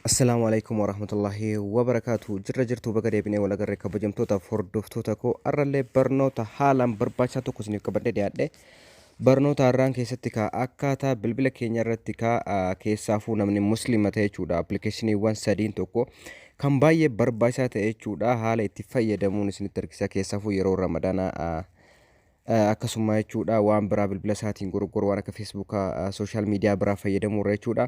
Assalaamu alaikum warahmatullahi wabarakaatu jirra jirtuu baga deebinee wal agarre kabajamtootaaf hordoftoota koo arrallee barnoota haalaan barbaachisaa tokko isiniif qabadhee dhiyaadhe barnoota har'aan keessatti kaa akkaataa bilbila keenya irratti kaa ah, keessaafuu namni musliima ta'e jechuudha appilikeeshiniiwwan sadiin tokko kan baay'ee barbaachisaa ta'e jechuudha haala itti fayyadamuun isinitti argisiisa keessaafuu yeroo ramadaanaa ah, akkasummaa jechuudha waan biraa bilbila isaatiin goroggoru waan akka feesbuuka sooshaal miidiyaa biraa fayyadamuu irra jechuudha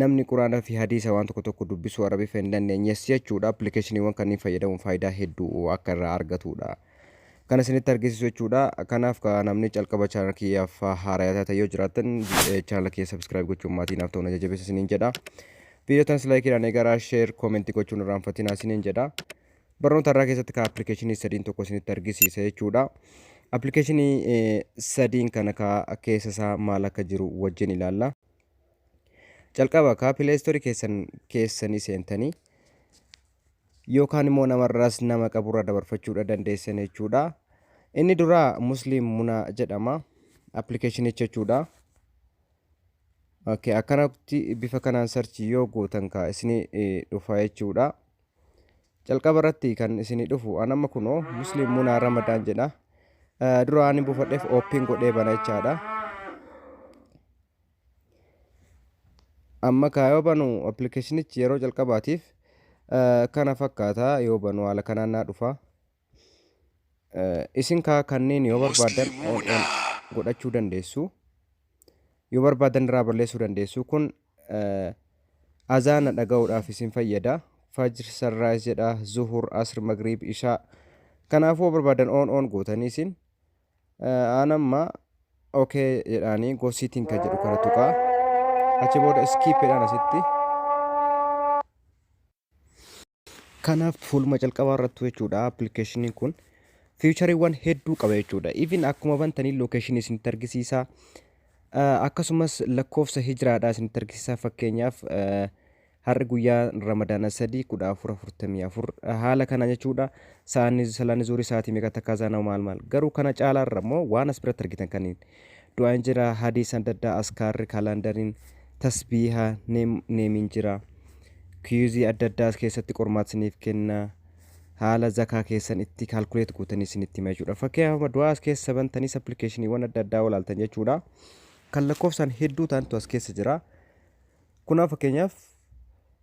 namni quraana fi hadiisa waan tokko tokko dubbisuu arabifa hin dandeenyes jechuudha appilikeeshiniiwwan kanneen fayyadamuun faayidaa hedduu akka irraa argatudha kan isinitti argisiisu jechuudha kanaaf ka namni calqaba chaanal kiyyaaf haarayaa taatan yoo jiraatan chaanal kiyya sabiskiraayib gochuun maatii naaf ta'uun jajjabeessa isiniin jedha viidiyoo tanas laayikiidhaan eegaraa sheer koomentii gochuun irraanfatinaa isiniin jedha Barnoota irraa keessatti ka appilikeeshinii sadiin tokko isinitti argisiisa jechuudha. Appilikeeshinii sadiin kana ka keessa isaa maal akka jiru wajjin ilaalla. Calqaba ka pileestoorii keessan keessanii seentanii yookaan immoo namarraas nama qaburra dabarfachuudha dandeessan jechuudha. Inni duraa Musliim Muna jedhama. Appilikeeshinicha jechuudha. Akkanatti bifa kanaan sarchi yoo gootan ka isinii dhufa jechuudha. Jalqaba irratti kan isinii dhufu an amma kunoo Muslim Munaa Ramadaan jedha. Eh, Dura ani buufadheef ooppiin godhee bana jechaadha. Amma kaa yoo banu appilikeeshinichi yeroo jalqabaatiif eh, kana fakkaata yoo banu haala kanaan naa dhufa. Isin kaa kanneen yoo barbaadan on on godhachuu dandeessu. Yoo barbaadan irraa balleessuu dandeessu. Kun azaana dhaga'uudhaaf isin fayyada. Fajr, Sunrise jedha, Zuhur, Asr, Maghrib, Ishaa. Kanaafuu yoo barbaadan on on gootanii isin aan amma okay jedhaanii go sitting kan jedhu kana tuqaa. Achi booda skip jedhaan asitti. Kanaaf fuuluma calqabaa irrattu jechuudha appilikeeshiniin kun fiichariiwwan hedduu qaba jechuudha. Even akkuma bantanii lookeeshinii isinitti argisiisa. Eh, Akkasumas lakkoofsa hijiraadhaa isinitti argisiisa fakkeenyaaf eh, har'i guyyaa ramadaana sadii kudha afur afurtamii afur eh, haala kana jechuudha. Saanni salaanni zuurii sa'aatii meeqa takka azaana'u maal maal garuu kana caalaarra immoo waan as biratti argitan kaniin Du'aayin jira, hadiisan dadda askaarri, kaalandarin, tasbiiha, neem, neemin jira. Kiyuuzii adda addaa as keessatti qormaata isiniif kenna. Haala zakaa keessan itti calculate gootanii isinitti hima jechuudha. Fakkeenyaaf amma du'aa as keessa bantaniis appilikeeshiniiwwan adda addaa walaaltan jechuudha. Kan lakkoofsaan hedduu ta'antu as keessa jira. Kunaa fakkeenyaaf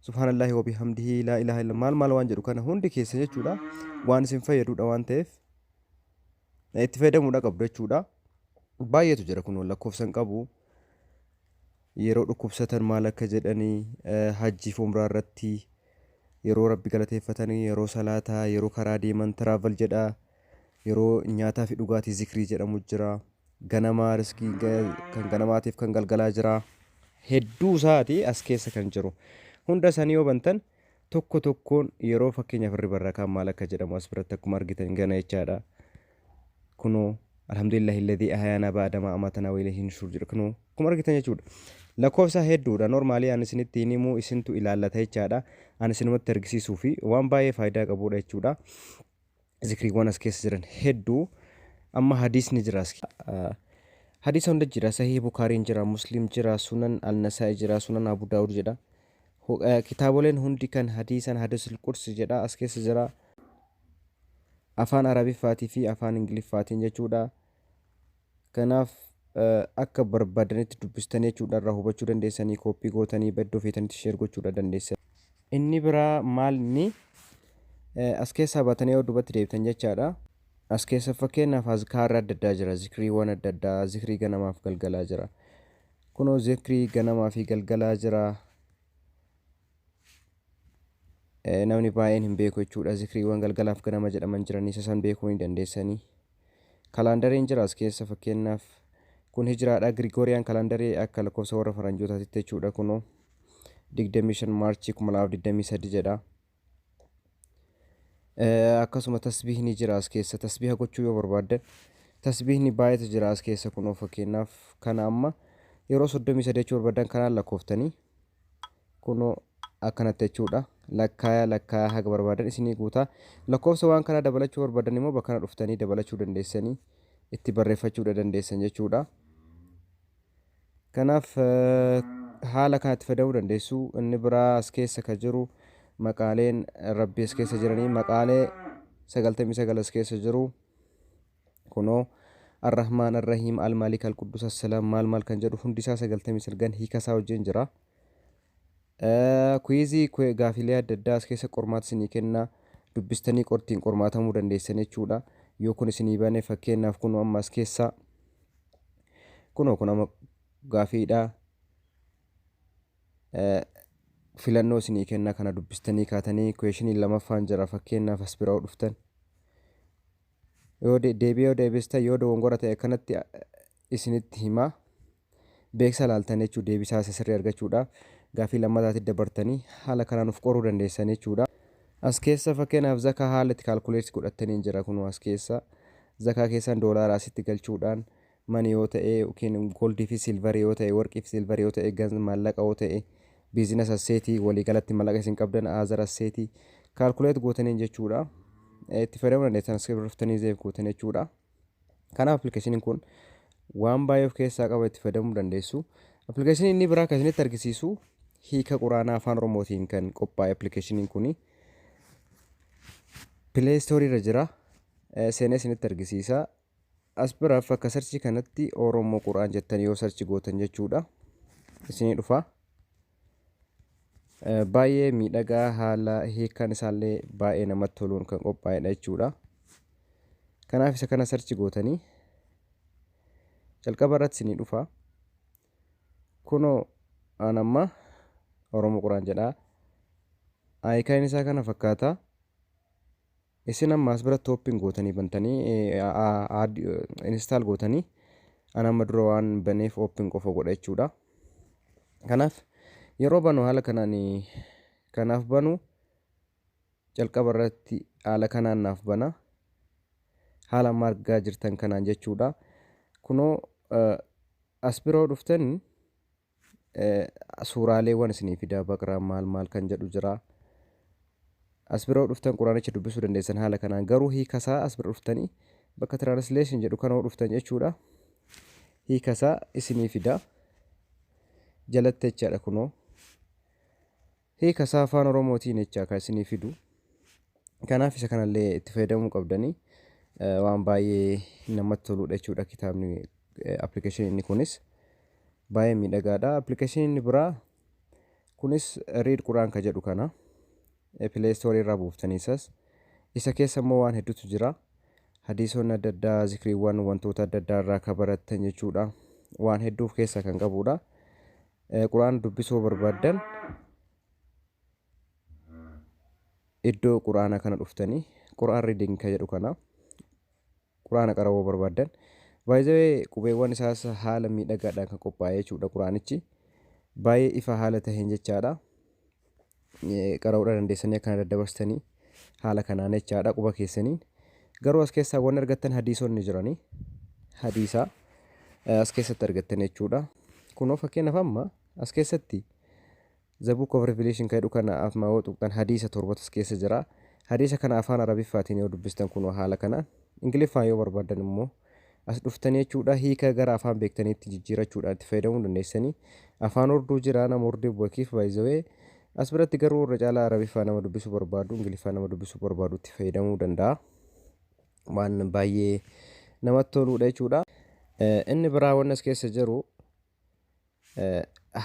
subhaanallahi wabii hamdihi laa ilaaha illa maal maal waan jedhu kana hundi keessa jechuudha. Waan isin fayyadudha waan ta'eef itti fayyadamuudha qabdu jechuudha. Baay'eetu jira kun lakkoofsa hin qabu. Yeroo dhukkubsatan maal akka jedhanii hajjiif umraa irratti yeroo rabbi galateeffatanii yeroo salaataa yeroo karaa deeman tiraaval jedhaa yeroo nyaataa fi dhugaatii zikrii jedhamu jira. Ganamaa riskii kan ganamaatiif kan galgalaa jira. Hedduu isaati as keessa kan jiru. Hunda isaanii yoo bantan tokko tokkoon yeroo fakkeenyaaf irri barrakaan maal akka jedhamu as biratti akkuma argitan gana jechaadha. Kunoo alhamdulillahi alladhii ahayaanaa ba'adamaa amatanaa wailee hin shuur jedha kunoo akkuma argitan jechuudha. Lakkoofsaa hedduudha normaalii ani isinitti hin himuu isintu ilaallata jechaadha. Ani isinumatti argisiisuu fi waan baay'ee faayidaa qabuudha jechuudha. Zikriiwwan as keessa jiran hedduu amma hadiisni jira as hadiisa hunda jira sahih bukaariin jira muslim jira sunan al-nasaa'i jira sunan abu daawud jedha Hu- eh, kitaaboleen hundi kan hadiisan hadiisul qursi jedha as keessa jira afaan arabiffaatii fi afaan ingiliffaatiin jechuudha Kanaaf akka barbaadanitti dubbistanii jechuudha irraa hubachuu dandeessanii kooppii gootanii iddoo feetanitti sheer gochuudha dandeessan. Inni biraa maal inni as keessaa baatanii yoo duubatti deebitan jechaadha. As keessa fakkeenyaaf azkaarri adda addaa jira zikriiwwan adda addaa zikrii ganamaaf galgalaa jira. Kunoo zikrii ganamaa fi galgalaa jira. namni baay'een hin beeku jechuudha zikriiwwan galgalaaf ganama jedhaman jiranii isa san beekuu ni dandeessanii kalaandariin jira as keessa fakkeenyaaf kun hijiraadha girigooriyaan kalaandarii akka lakkoofsa warra faranjootaatitti jechuudha kunoo 25 maarchii 2023 jedha akkasuma tasbiihni jira as keessa tasbiiha gochuu yoo barbaaddan tasbiihni baay'eetu jira as keessa kunoo fakkeenyaaf kana amma yeroo 33 jechuu barbaadan kanaan lakkooftanii kunoo akkanatti jechuudha lakkaaya lakkaaya haga barbaadan isinii guuta lakkoofsa waan kanaa dabalachuu barbaadan immoo bakkana dhuftanii dabalachuu dandeessanii itti barreeffachuudha dandeessan jechuudha kanaaf haala kanatti fayyadamuu dandeessu inni biraa as keessa ka jiru maqaaleen rabbii as keessa jiranii maqaalee sagaltamii sagal as keessa jiru Kunoo, Ar-Rahmaan, Ar-Rahiim, Al-Maalik, Al-Quddus, As-Salaam, maal maal kan jedhu hundi isaa 99n hiika isaa wajjin jira. Kuwiizii, kwe, gaafilee adda addaa as keessa qormaata isinii kenna. Dubbistanii qortiin qormaatamuu dandeessan jechuudha. Yoo kun isinii bane fakkeenyaaf kunoo amma as keessa kunoo kun amma gaafiidha. Filannoo isinii kenna kana dubbistanii kaatanii kuweeshiniin lamaffaan jira fakkeenyaaf as bira yoo dhuftan. Yoo deebii yoo deebistan yoo dogongora ta'e akkanatti isinitti hima. Beeksisa laaltan jechuudha deebisaa isa sirrii argachuudhaaf gaaffii lammataatti dabartanii haala kanaan of qoruu dandeessan jechuudha. As keessa fakkeenyaaf zakaa haala itti kaalkuleetti godhattaniin jira kunoo as keessa zakaa keessan doolaara asitti galchuudhaan mani yoo ta'e yookiin goldii fi silvarii yoo ta'e warqii fi silvarii yoo ta'e ganz maallaqa yoo ta'e biizinas asseetii waliigalatti maallaqa isin qabdan aazar asseetii kaalkuleet gootaniin jechuudha itti fayyadamuu dandeessan iskiripti dhuftanii zeef gootan jechuudha kanaaf appilikeeshiniin kun waan baay'ee of keessaa qaba itti fayyadamuu dandeessu appilikeeshinii inni biraa kan isinitti argisiisu hiika quraanaa afaan oromootiin kan qophaa'e appilikeeshiniin kuni pileestoorii irra jira seenee isinitti argisiisa As bira fakka search kanatti Oromo Quran jettanii yoo search gootan jechuudha. Isinii dhufa. Eh, Baay'ee miidhagaa haala hiikaan isaallee baay'ee namatti toluun kan qophaa'edha jechuudha. Kanaaf isa kana search gootanii jalqaba irratti isinii dhufa. Kunoo aan amma Oromo Quran jedha. Hiikaan isaa kana fakkaata. Isin amma as biratti open gootanii bantanii add install gootanii an amma dura waan baneef open qofa godha jechuudha. Kanaaf yeroo banu haala kanaan kanaaf banu jalqaba irratti haala kanaan naaf bana. Haala amma argaa jirtan kanaan jechuudha. Kunoo as biroo dhuftanii Suuraaleewwan isinii fidaa Baqraa maal maal kan jedhu jira. As bira yoo dhuftan Quraanicha dubbisuu dandeessan haala kanaan garuu hiikasaa as bira dhuftanii bakka translation jedhu kana yoo dhuftan jechuudha. Hiikasaa isinii fidaa. Jalatte jechaadha kunoo. Hiika isaa afaan oromootiin jechaa kan isinii fidu. Kanaaf isa kanallee itti fayyadamuu qabdanii eh, waan baay'ee namatti toluudha jechuudha kitaabni eh, appilikeeshinii inni kunis baay'ee miidhagaadha. Appilikeeshinii inni biraa kunis Read Quraan ka jedhu kana eh, Play Store irraa buuftanii isas isa keessa immoo waan hedduutu jira. Hadiisonni adda addaa, zikriiwwan, wantoota adda addaa irraa ka barattan jechuudha. Waan hedduu of keessaa kan qabuudha. Qur'aana dubbisuu barbaaddan iddoo Qur'aana kana dhuftanii Qur'aan reading ka jedhu kana Qur'aana qara'uu barbaaddan by the way qubeewwan isaas haala miidhagaadhaan kan qophaa'e jechuudha Qur'aanichi baay'ee ifa haala taheen jechaadha qara'uudha dandeessanii akkana daddabarsitanii haala kanaan jechaadha quba keessaniin garuu as keessaa wanni argattan hadiisonni jiranii hadiisaa eh, as keessatti argattan jechuudha kunoo fakkeenyaaf amma as keessatti The Book of Revelation kan jedhu kana afmaa yoo tuqxan hadiisa torbatu as keessa jira hadiisa kana afaan arabiffaatiin yoo dubbistan kunoo haala kanaan ingiliffaan yoo barbaaddan immoo As dhuftanii jechuudha hiika gara afaan beektaniitti jijjiirachuudhaan itti fayyadamuu dandeessanii. Afaan horduu jira nama hordee bu'akiif by the way. As biratti garuu irra caalaa Arabiffaa nama dubbisuu barbaadu, Ingiliffaa nama dubbisuu barbaadu itti fayyadamuu danda'a. Waan baay'ee namatti toluudha jechuudha. Inni biraa wanni as keessa jiru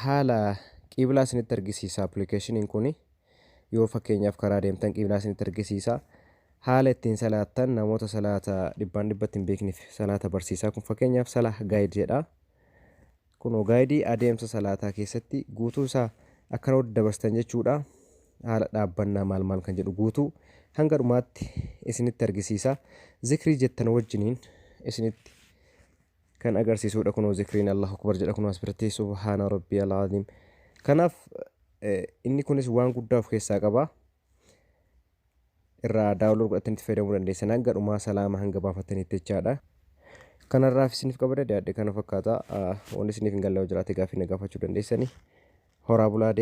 Haala qiblaa isinitti argisiisa appilikeeshiniin kun yoo fakkeenyaaf karaa deemtan qiblaa isinitti argisiisa. Haala ittiin salaattan namoota salaata dhibbaan dhibbatti hin beekneef salaata barsiisaa kun fakkeenyaaf salaa gaayid jedha. Kunoo gaayidii adeemsa salaataa keessatti guutuu isaa akka nuti dabarsitan jechuudha. Haala dhaabbannaa maal maal kan jedhu guutuu hanga dhumaatti isinitti argisiisa. Zikrii jettan wajjiniin isinitti kan agarsiisudha kunoo zikriin Allahu Akbar jedha kunoo asirratti subhaana rabbii alaaziim kanaaf inni kunis waan guddaa of keessaa qaba irraa daawunlood godhatanitti fayyadamuu dandeessan hanga dhumaa salaama hanga baafatanitti jechaadha kanarraaf isiniif qabada dhiyaadhe kana fakkaata wanni isiniif hin galle yoo jiraate gaaffii na gaafachuu dandeessani horaa bulaa deema